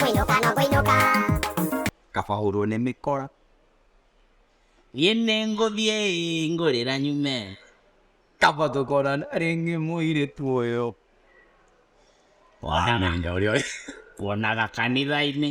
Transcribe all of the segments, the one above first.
Kũinũka no kũinũka. kaba hũrwo nĩ mĩkora niĩ nĩ ngũthiĩ ngũrĩra nyume kaba tũkorana rĩngĩ mũirĩtu ũyũ wona mũndũ ũrĩa ũrĩ- wonaga kanitha-inĩ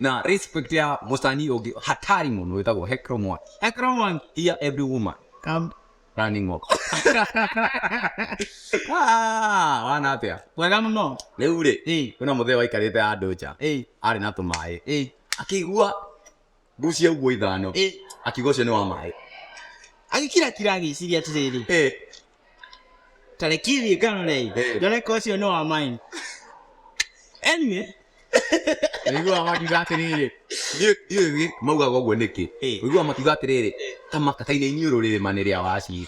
Now respect ya musani ogi hatari muno witagwo Hecro Mwaki. Hecro Mwaki here every woman come running off. ah, wana atia. Wega muno. Riu ri, eh, kuna muthe waikarite andu nja. Eh, ari na tumai. Eh, akigua gucia uguo ithano. Eh, akigua ucio ni wa mai. Agikira kira agiciria atiriri. Eh, tarekirie kanurei Eh. ndoneka ũcio nĩ wa mine anyway Ũiguaga makiuga atĩrĩrĩ, ndiũ- ndiũ gĩ- maugaga ũguo nĩkĩ Eh. ũiguaga makiuga atĩrĩrĩ kamaka kainĩ iniũrũ rĩrĩma nĩ rĩa waci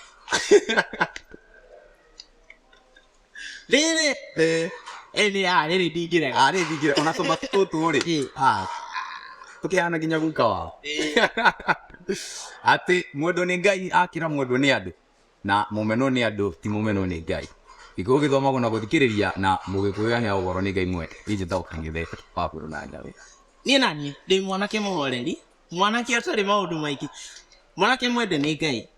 rĩrĩ Eh, ĩnĩ ya rĩrĩ ndingĩrega ah, rĩrĩ ndingĩra ona tũmatu tũtũ rĩ Eh. ah, tũkĩhana nginya guka wao atĩ mũndũ nĩ ngai akĩra mũndũ nĩ andũ na mũmenwo nĩ andũ ti mũmenwo nĩ Ngai. Nĩkĩo ũgĩthomagwo na gũthikĩrĩria na mũgĩkũũyania ũhoro nĩ Ngai mwene. Niĩ njĩtagwo Kang'ethe wa Bũrũ na Ngarĩ. Niĩ naniĩ ndĩ mwanake mũhoreri, mwanake ũtarĩ maũndũ maingĩ, mwanake mwende nĩ Ngai.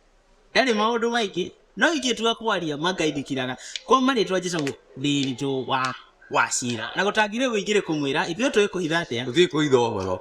Ndarĩ maũndũ maingĩ, no ingĩtua kwaria ma Ngai ndikiraga. Kwa marĩĩtwa njĩtagwo Ndiritu wa Wachira. Na gũtangĩrĩ ũingĩrĩ kũmwĩra, ithuĩ tũĩkũhitha atĩa? Tũtiĩkũhitha ũhoro.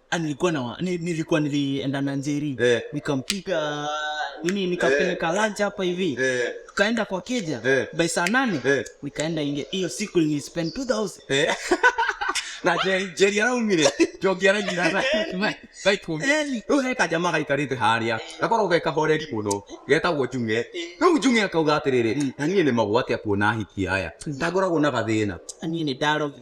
Ah, nilikuwa na ni- nilikuwa nilienda na njeri Eh. nikampiga nini nikampeleka lunch hapa hivi Eh. tukaenda kwa keja Eh. by saa nane Eh. nikaenda inge hiyo siku nilispend 2000 Eh. na Jerry- Jerry araumire njongi aragira kajamaa gaikarĩte harĩa gakorwo ge kahoreri mũno getagwo njung'e rĩu njung'e akauga atĩrĩrĩ na niĩ nĩ magwate akuona ahiki aya ndangoragwo na gathĩna niĩ nĩ ndarogi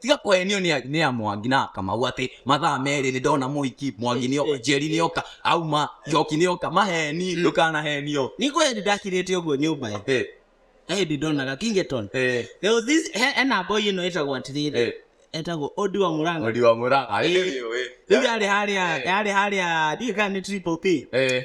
tiga kũhenio nĩ nĩ ya mwangi na kamau atĩ mathaa merĩ nĩ ndona mũiki mwangi nĩ oka njeri nĩ oka auma njoki nĩ oka maheni ndũkanahenio nĩ kweli ndakirĩte ũguo nyũmba ĩ Eh, he hĩndĩ ndonaga kingeton eh, There was this- he- hena boy ĩno ĩtagwo atĩrĩrĩ eh, etagwo ondi wa mũranga Odi wa Murang'a, eh, rĩu yarĩ harĩa yarĩ harĩa ndiũĩ kana nĩ triple p eh,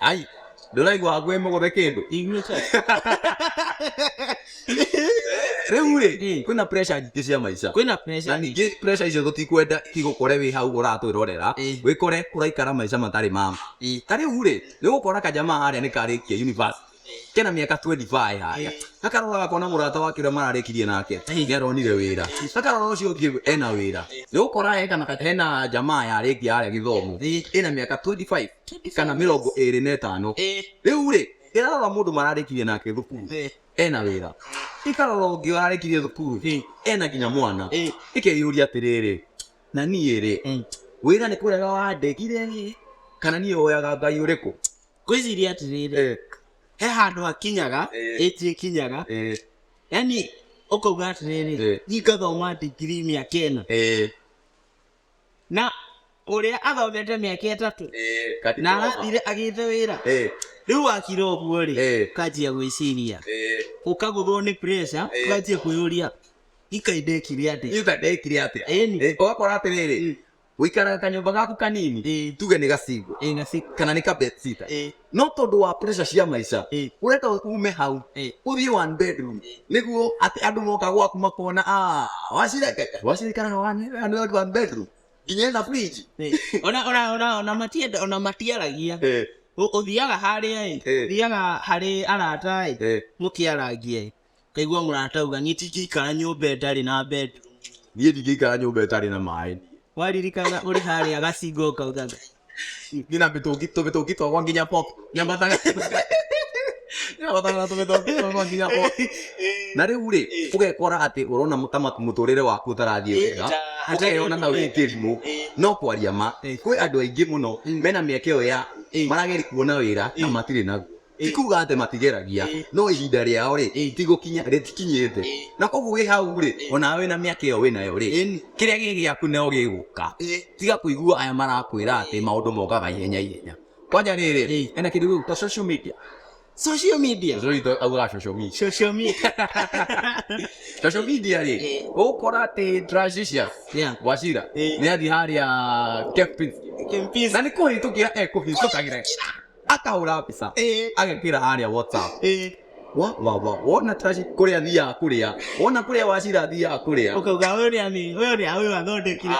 Ai, ndũraigua ngwĩ mũgũthe kĩndũ inyuĩte rĩu rĩ Mm. kwĩna pressure nyingĩ cia maica kwĩna na pressure ningĩ pressure icio tũtikwenda igũkore wĩ hau ũratwĩrorera Mm. wĩkore kũraikara maica matarĩ mama Mm. ta rĩu rĩ nĩgũkora kajama harĩa nĩkarĩkia university kena miaka 25 haya akarora akona murata wake uria mararekirie nake niaronire wira akarora ucio ungi ena wira ni ukora eka na hena jamaa yarekia haria githomo ina miaka 25 kana mirongo iri na itano riu ri irarora mundu mararekirie nake thukuru ena wira ikarora ungi ararekirie thukuru ena nginya mwana ikeyuria atiriri na niĩ rĩ wĩra nĩ kũrega wandegire kana niĩ woyaga ngai ũrĩkũ ngwĩciria atĩrĩrĩ Eh, he handũ hakinyaga Eh. ĩti ĩkinyaga eh, yani ũkauga atĩrĩrĩ Eh. ni ngathoma ndigiri mĩaka ĩna eh, na ũrĩa athomete mĩaka ĩtatũ eh, na katikoma. arathire agĩte wĩra Eh, rĩu wakira ũguo rĩ Eh. ũkanjia gwĩciria eh, ũkaguthwo nĩ pressure Eh. ũkanjia kwĩyũria ikaindekire atĩ itha ndekire atĩa Ĩni. Eh, ũgakora atĩrĩrĩ wĩikaraga kanyũmba gaku kanini ĩĩ tuge nĩ gacingo ĩĩ gaciko kana nĩ kabetsita ĩĩ no tondũ wa pressure cia maica ĩĩ wenda ume hau ĩĩ uthiĩ one bedroom nĩguo atĩ andũ moka gwaku makona "Ah, wacirekeka wacirikana one one- one bedroom nginya ĩna fridge ĩĩ ona ona ona ona matienda ona matiaragia Ĩ, Ũ- ũthiaga harĩa ĩ Ĩĩ. thiaga harĩ arata ĩ ĩ, mũkĩaragia ĩ Ngaigua mũrata auga niĩ tingĩikara nyũmba ĩtarĩ na bedroom. Niĩ ndingĩikara nyũmba ĩtarĩ na maĩ. Waririkana ũrĩ harĩa gacinga ũkauga Niĩ na mĩtũngi tũmĩtũngi twakwa nginya pop. Nyambataga nyambataga na tũmĩtũngi twakwa nginya pop. Na rĩu rĩ, ũgekora atĩ ũrona ta mũtũrĩre waku ũtarathiĩ wega, ũkeyona ta wĩ kĩrimũ. No kwaria ma, kwĩ andũ aingĩ mũno mena mĩeke ĩyo ya marageria kuona wĩra na matirĩ naguo. ti kuga atĩ matigeragia no ihinda rĩao rĩ ti gũkinya rĩtikinyĩte na koguo wĩ hau rĩ ona wĩ na mĩaka ĩyo wĩ nayo rĩ kĩrĩa gĩ gĩaku nao gĩgũka tiga kũigua aya marakwĩra atĩ maũndũ mokaga ihenya ihenya kwanja rĩrĩ ena kĩndũ gĩgũ ta social media social media Zoito auga social media social media social media rĩ ũkora atĩ transition yeah wacira nĩ athi harĩa kempis kempis na nĩ kũhĩtũkĩra ekũhĩtũkagĩra akahũra mbica Eh. agekĩra harĩa whatsapp Eh, Wa- wa- wa- wona trash kũrĩa thiaga kũrĩa wona kũrĩa wacira thiaga kũrĩa ũkauga ũyũ nĩ ani ũyũ nĩ ũyũ athondekire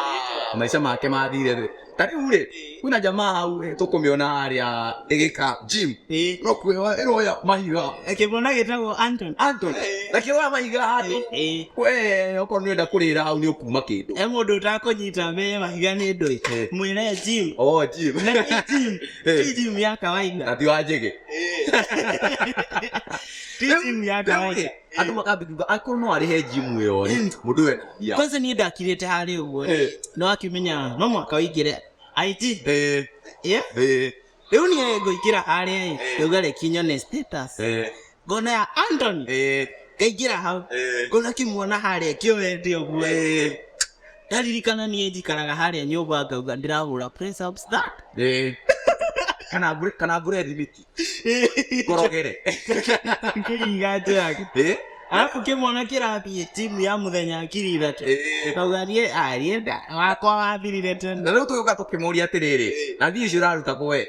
Ah, maica make mathire rĩ ta rĩu rĩ kwĩna jamaa hau rĩ, tũkũmĩona harĩa ĩgĩka gym Eh, no kwĩwa ĩroya mahiga kĩmwana gĩtagwo anton Anton na kĩroya mahiga handũ Eh, we okorwo nĩ wenda kũrĩra hau nĩ ũkuma kĩndũ he mũndũ ũtakũnyita me mahiga nĩ ndũĩ Eh. mwĩre jim o gym na nĩ jim Eh. Hii gym ya kawaida. ati wajege Hii gym ya kawaida. andå makambä akorwo no arä he jimu ä yo rä må ndå we ya Kwanza niĩ ndakirĩte harĩ ũguo. Eh. No akimenya no mwaka ũingĩre. IT. Eh, Yeah. eh, Rĩu niĩ ngũingĩra harĩa ĩ. Rĩu gareki nyone status. eh. ngona ya Anthony eh ngaingĩra hau eh ngona kĩmwana harĩa kĩoete ũguo eh ndaririkana niĩ njikaraga harĩa nyũmba ngauga ndĩrahũra press ups that eh kana ngure kana ngure thimiti ngorogere ngĩringa njĩra eh arabu kĩmwana kĩrathiĩ timu ya mũthenya ngiri ithatũ eh kauga niĩ arienda wakwa wathirire tene na rĩu tũgĩũka tũkĩmũria atĩrĩrĩ na thiĩ icio ũraruta kwe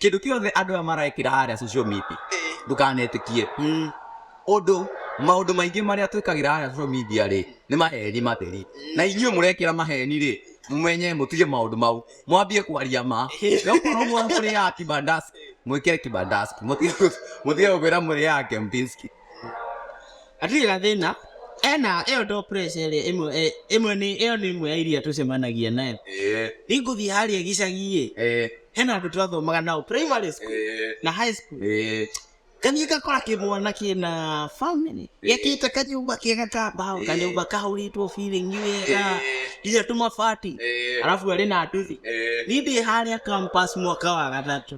kĩndũ kĩothe andũ aya marekĩra harĩa social media ndũkanetĩkie ũndũ maũndũ maingĩ marĩa twĩkagĩra harĩa social media rĩ nĩ maheni matheri na inyuĩ mũrekĩra maheni rĩ mũmenye mũtige maũndũ mau mwambie kwaria ma okorwo mwa- mũrĩaga kibandasi mwĩkĩre kibandasi mũtige mũtige gũkwĩra mũrĩaga kempinski Hatirĩ gathĩna, ena ĩyo ndo pressure ĩrĩa ĩmwe eh, ĩmwe nĩ ĩyo nĩ ĩmwe ya iria tũcemanagia nayo Eh, ingũthiĩ harĩa gĩcagi-ĩ eh, hena andũ twathomaga nao primary school eh, na high school eh. ngathiĩ ngakora kĩmwana kĩna family gĩakĩte kanyũmba kega ka mbaũ kanyũmba kahũrĩtwo biringi wega nginya tũmabati Eh, arabu arĩ na nduthi eh. niĩ ndĩ harĩa campus mwaka wa gatatũ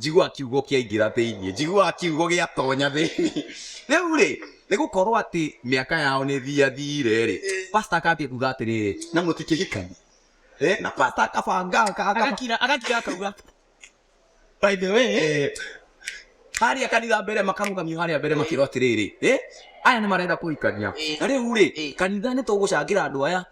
Njiguaga kiugo kĩaingĩra thĩinĩ, njiguaga kiugo gĩatonya thĩinĩ. Rĩu rĩ, nĩ gũkorwo atĩ mĩaka yao nĩ thiathire rĩ, pastor akambia kuga atĩrĩrĩ, na mũtikĩhikani. Eh, na pastor akabanga aka- aka- agakira agakira akauga by the way eh, harĩa kanitha mbere makarũgamio harĩa mbere makĩrwo atĩrĩrĩ eh, aya nĩ marenda kũhikania na rĩu rĩ kanitha nĩ tũgũcangĩra andũ aya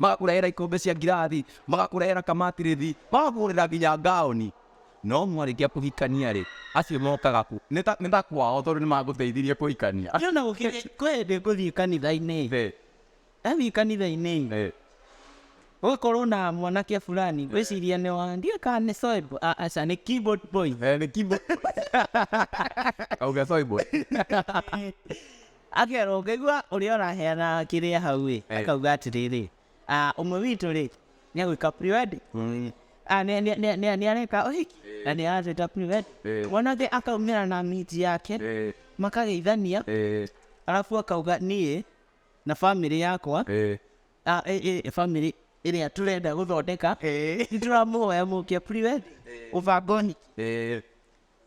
magakũrehera ikombe cia ngirathi magakũrehera kamatirithi magakũgũrĩra nginya ngaoni no mwarĩkia kũhikania rĩ acio mokaga ku nĩ ta- nĩ ta kwao tondũ nĩ magũteithirie kũhikania Niĩ ona gũkĩrĩ kwendĩ ngũthiĩ kanitha-inĩ Ĩĩ. Ndathiĩ kanitha-inĩ ĩ, Eh. gũkorwo na mwanake fulani ngwĩciria nĩ wa ndiũĩ kana nĩ soibu aca nĩ keyboard boy Eh, nĩ kimbo. Kauga soibo. akerwo ngaigua ũrĩa ũraheana kĩrĩa hau ĩ Eh. akauga atĩrĩrĩ "Ah, ũmwe witũ rĩ nĩ agwĩka pre-wedding Mm. Ah, nĩ- nĩ- nĩ- nĩ- nĩ areka ũhiki na nĩ aratuĩta pre-wedding Eh. mwanake akaumĩra na miti yake Eh, makageithania eh. arabu akauga niĩ na bamĩrĩ yakwa Eh. Ah, eh, eh, bamĩrĩ ĩrĩa tũrenda gũthondeka nĩ tũramũhoya mũke priwe ũbangoni Eh.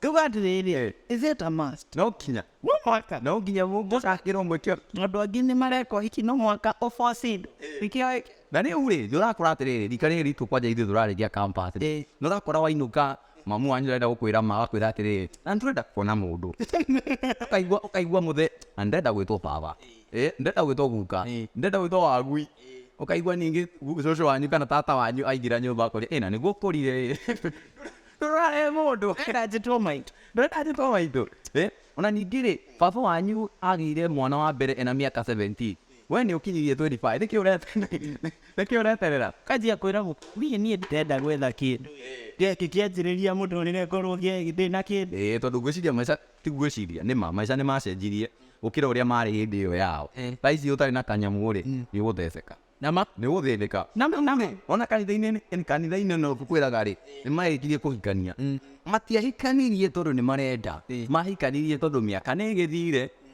tuga atĩrĩrĩ Eh. is it a must No kinya. no mwaka No nginya mũngĩcakĩrwo mwĩkĩo. andũ angĩ nĩ mareka ũhiki no mwaka ũbocindũ nĩkĩo na rä u rä nä å rakora atä rä rä rika rä ritå kwanja ithuä tå rarä ria nä å rakora wainå ka Mamu wanyu arenda gũkwĩra ma, agakwĩra atĩrĩrĩ, na nĩtũrenda kuona mũndũ. Ũkaigua ũkaigua mũthee, na nĩndĩrenda gwĩtwo baba. Ĩĩ, nĩndĩrenda gwĩtwo guka. Nĩndĩrenda gwĩtwo wagui. Ũkaigua ningĩ cũcũ wanyu kana tata wanyu aingĩra nyũmba akoria, ĩ na nĩguo ũkũrire-ĩ. Ndũrarehe mũndũ, ndĩrenda njĩtwo maitũ, ndĩrenda njĩtwo maitũ. Ĩĩ, o na ningĩ-rĩ, baba wanyu agĩire mwana wa mbere e na mĩaka seventeen. We nĩ ũkinyĩirie 25 nĩkĩ ũreterera nĩkĩ ũreterera kanjia kwĩra gũ- niĩ niĩ ndirenda gwetha kĩndũ gĩkĩ kĩanjĩrĩria mũtũrĩre ngorwo ngĩ- ndĩ na kĩndũ ĩĩ tondũ ngwĩciria maica ti ngwĩciria nĩ ma maica nĩ macenjirie gũkĩra ũrĩa marĩ hĩndĩ ĩyo yao Eh. thaa ici ũtarĩ na kanyamũ rĩ nĩ ũgũtheceka na ma nĩ ũgũthĩnĩka na ma na ma ona kanitha-inĩ nĩ- kanitha-inĩ no kwĩraga rĩ nĩ marĩkirie kũhikania matiahikanirie tondũ nĩ marenda mahikanirie tondũ mĩaka nĩ ĩgĩthire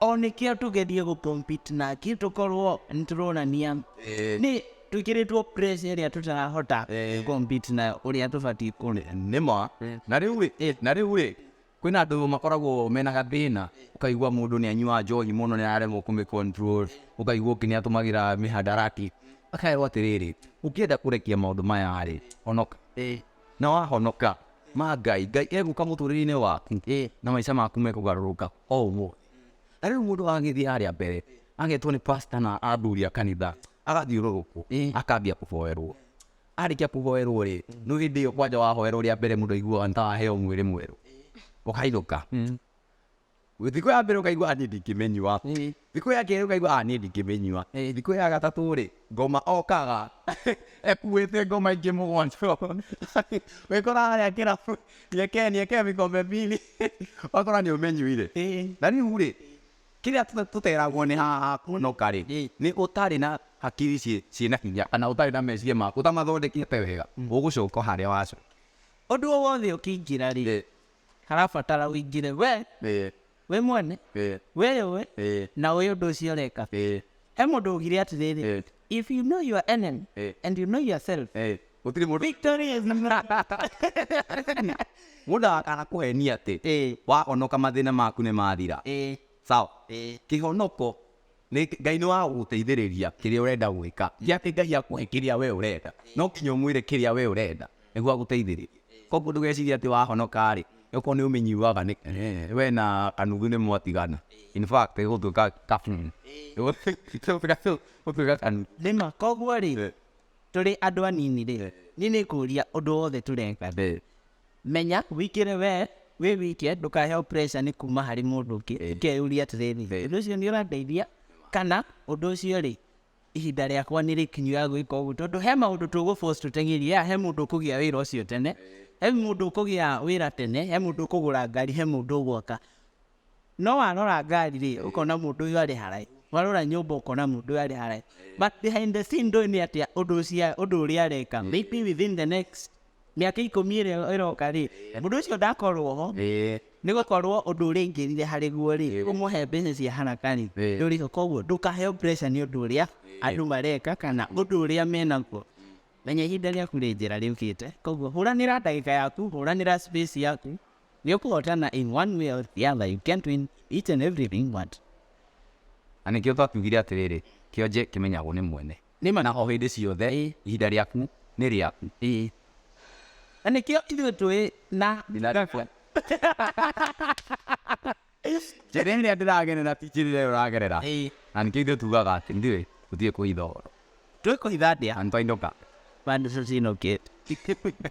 O nĩ kĩo tũgerie gũkompiti nake tũkorwo nĩ tũronania nĩ twĩkĩrĩtwo pressure ĩrĩa tũtarahota gũkompiti na ũrĩa tũbatiĩ kũrĩ. nĩ ma na rĩu rĩ eh, na rĩu rĩ kwĩna andũ makoragwo mena gathĩna ũkaigua mũndũ nĩ anyuaga njohi mũno nĩ araremwo kũmĩ control ũkaigua ũngĩ nĩ atũmagĩra mĩhandarati akerwo atĩrĩrĩ ũngĩenda kũrekia maũndũ maya rĩ onoka Na wahonoka, ma Ngai, Ngai egũka mũtũrĩre-inĩ waku, na maica maku mekũgarũrũka o ũguo. Na rĩu mũndũ agagĩthiĩ harĩa mbere, agetwo nĩ pastor na athuri a kanitha, agathiũrũrũkwo, akambia kũhoerwo. Arĩkia kũhoerwo rĩ, rĩu hĩndĩ ĩyo kwanja wahoerwo rĩa mbere mũndũ aiguaga nĩ ta waheo mwĩrĩ mwerũ, ũkainũka. Thikũ ya mbere ũkaigua niĩ ndingĩmĩnyua thikũ ya kerĩ ũkaigua niĩ ndingĩmĩnyua thikũ ya gatatũ rĩ ngoma okaga ekuĩte ngoma ingĩ mũgwanja wĩkora harĩa kĩrabu nieke nieke vikombe mbili wakora nĩ ũmĩnyuire na rĩu rĩ kĩrĩa tũteragwo nĩ haha kũnoka rĩ nĩ ũtarĩ na hakiri ciĩna hinya kana ũtarĩ na meciria maku ũtamathondekete wega ũgũcoka harĩa wacoka ũndũ o wothe ũkĩingĩra rĩ arabatara ũingĩre we ĩĩ, we mwene ĩĩ, wĩyũĩ ĩĩ, na ũĩ ũndũ ũcio ũreka ĩĩ, he mũndũ ũgire atĩrĩrĩ ĩĩ, if you know your enemy ĩĩ, and you know yourself ĩĩ. gũtirĩ mũndũ victory is mũndũ akana kũhenia atĩ ĩĩ wahonoka mathĩna maku nĩ mathira ĩĩ sawa ĩĩ kĩhonoko Nĩ, Ngai nĩ wa gũgũteithĩrĩria kĩrĩa ũrenda gwĩka. Ti atĩ Ngai akũhe kĩrĩa we ũrenda. No nginya ũmwĩre kĩrĩa we ũrenda, nĩguo agũteithĩrĩrie. Koguo ndũgecirie atĩ wahonoka-rĩ, nĩ gũkorwo nĩ ũmĩnyuaga nĩ, eeh, we na kanuthu nĩ mwatigana. In fact ĩgũtuĩka kabuni. Ĩgũtuĩka kanuthu. Nĩ ma. Koguo-rĩ, tũrĩ andũ anini-rĩ, niĩ nĩ ngũria ũndũ wothe tũreka-rĩ, Menya wĩkĩre we wĩ wike ndũkaheo pressure nĩ kuma harĩ mũndũ ũngĩ Eh. ũkeyũria atĩrĩrĩ Eh. ũndũ ũcio nĩ ũrandeithia kana ũndũ ũcio rĩ ihinda rĩakwa nĩ rĩkinyu ya gwĩka ũguo tondũ he maũndũ tũgũbos tũteng'erie ya he mũndũ ũkũgĩa wĩra ũcio tene he mũndũ ũkũgĩa wĩra tene he mũndũ ũkũgũra ngari he mũndũ ũgwaka No warora ngari rĩ, ũkona mũndũ ũyũ arĩ haraihu, warora nyũmba ũkona mũndũ ũyũ arĩ haraihu. But behind the scene ndũĩ nĩ atĩa ũndũ ũcio ũndũ ũrĩa areka. Maybe within the next mĩaka ikũmi ĩrĩa ĩroka rĩ, mũndũ ũcio ndakorwo ho, Ĩĩ. nĩ gũkorwo ũndũ ũrĩa aingĩrire harĩ guo rĩ, ũmũhe mbeca cia haraka rĩ, Ĩĩ. ndũrĩ ho. Koguo ndũkaheo pressure nĩ ũndũ ũrĩa andũ mareka kana ũndũ ũrĩa menaguo. Menya ihinda rĩaku rĩ njĩra rĩũkĩte, koguo hũranĩra ndagĩka yaku, hũranĩra space yaku, Nĩũkw'o ũtana in one way or the other, you can't win in each and everything you want. Na nĩkĩo twakiugire atĩrĩrĩ, Kĩonje kĩmenyagwo nĩ mwene. Nĩ ma na o hĩndĩ ciothe ihinda rĩaku nĩ rĩaku. Na nĩkĩo ithuĩ twĩ na. Thina rĩakwa. Njĩra ĩrĩa ndĩragerera ti njĩra ĩrĩa ũragerera. Na nĩkĩo ithuĩ tugaga atĩ ithuĩ tũtiũĩ kũhitha ũhoro. Tũĩ kũhitha atĩa? Na nĩtwainũka. Na nĩtũinũkĩte.